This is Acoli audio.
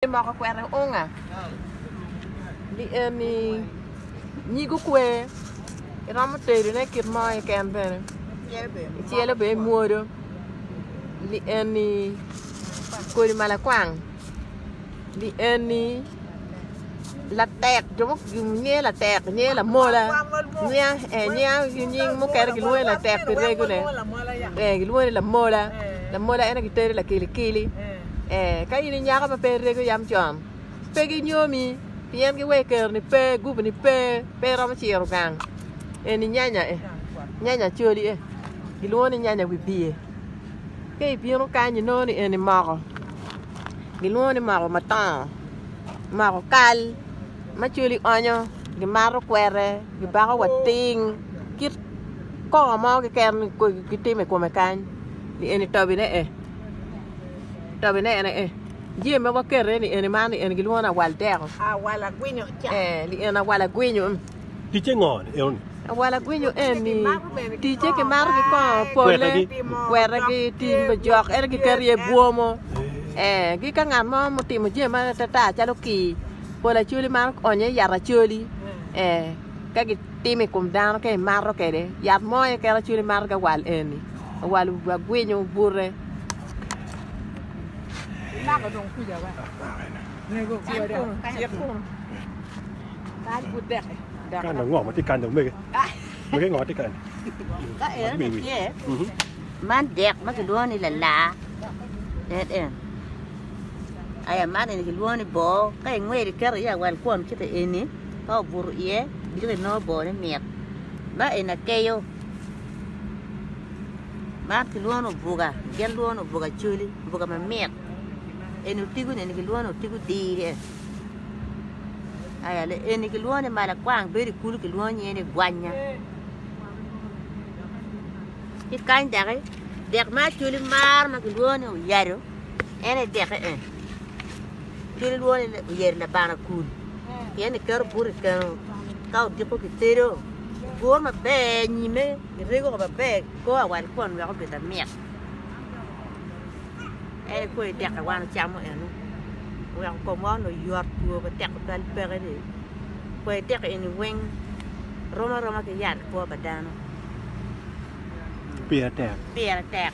Ni moko kwero unga ni eni nyigo kwer, iromo tedo ne kit mo keken bene icelo bene imwodo ni eni kodi malakwang ni eni latek jo mo nge latek nge lamola nying mukene gilwongo ni latek pi rego ne kilwongo ni lamola, lamola en aye kitedo lakili kili. ee, ka in i nyako ma pe irego yam con, pe ginyomi, pien giwee ker-ni pe, gubu-ni pe, pe iromo ciro gang. Eni nyanya e, nyanya coli e, gilwongo ni nyanya wibie. Ka ibino kany inongo ni eni moko, gilwongo ni moko matongo, moko kal ma coli onyo, gimato kwete, gibako wa ting, kit kongo mo keken kitimo i kome kany, eni tobine e. Tabine ene eh. Jee ma wakete ni ene man ni ene gilwongo ni awal deko. Awala gwinyo ca. Eh, ni ene awala gwinyo. Ticce ngo enoni? Awala gwinyo eni ticce ki mato ki kongo pole, kwetagi, tim pa jok, ene giketo iye bwomo. Eh, gi ka ngat mo mutimo jee ma tata calo kii, pol acoli man onyo yat acoli. Eh. ka gitimo i kom dano ka imato kwede yat mo aye kit acwali imato ki awal eni awal agwinyo bute man dek ma kilwongo ni lalaa dek en aya man eni kilwongo ni boo ka ingweli iketo iye awal kwon kite eni ka obuto iye diki inongo bone mit ma eni akeyo ma kilwongo ni obuga gin lwongo ni obuga coli obuga mamit eni otigo ni eni kilwongo ni otigo dire aya eni kilwongo ni malakwang bedo i kulu kilwongo nyinge ni gwanya ki kany doki dek ma acoli maro ma kilwongo ni oyado en aye deke eni. Cwiny lwongo ni oyer labana kun, pien ni keto buto i keno. Ka odiko kitedo, iguro maber nyime, irego ko maber, ikoo awal kwon wek obed mamit. En ikwoyo idek awal icamo eno, oweko komwa onongo oyot, two pe tek tutwal peke ni. Kwai dek eni weng rom aroma ki yat i kwo pa dano. Pire tek.